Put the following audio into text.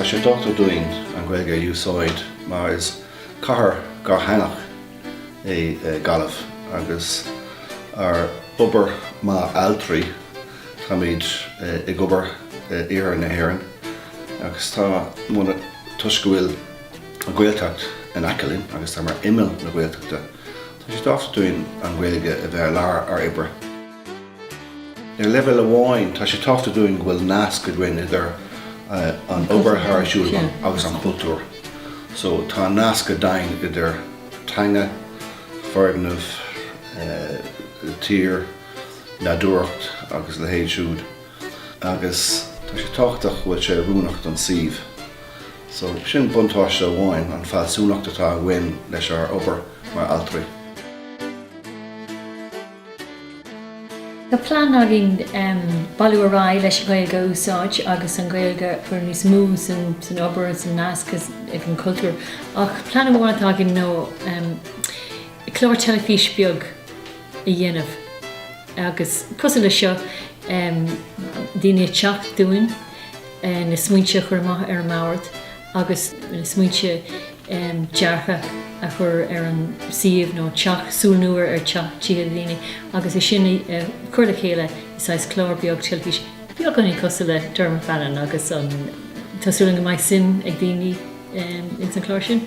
Tá sé tábhachtach dúinn an Ghaeilge a úsáid mar is cathair dhátheangach é Gaillimh agus ár obair mar ailtirí táimid ag obair in iarthar na hÉireann agus tá muid ann toisc go bhfuil an Ghaeltacht in aice linn agus tá mar imeall na Gaeltachta Tá sé tábhachtach dúinn an Ghaeilge a bheith i lár ár oibre. Ar leibhéal amháin, tá sé tábhachtach dúinn go bhfuil nasc againn idir an obair thairiseal agus an cultúr. So tá nasc againn idir teanga, foirgneamh, tír, nádúrthacht agus a leithéid siúd. agus tá sé tábhachtach go bhfuil sé oiriúnach don suíomh so. Sin buntáiste amháin, an fealsúnacht atá againn leis ár obair mar ailtirí. Tá plean againn bailiú ar aghaidh leis an Ghaeilge a úsáid agus an Ghaeilge a chur níos mó san obair, san nasc ag an chultúr, ach plean amháin atá againn ná clár teilifís beag. a dhéanamh agus cosúil leis seo, daoine ag teacht dúinn na smaointe a chur amach ar an mbord agus na smaointe deartha a chur ar an suíomh nó teach, súil nua ar teach, tithe do dhaoine agus é sin a chur le chéile i saghas clár beag teilifíse, beagáinín cosúil le Dermot Bannon agus tá súil agam go mbeidh suim ag daoine ins an chlár sin.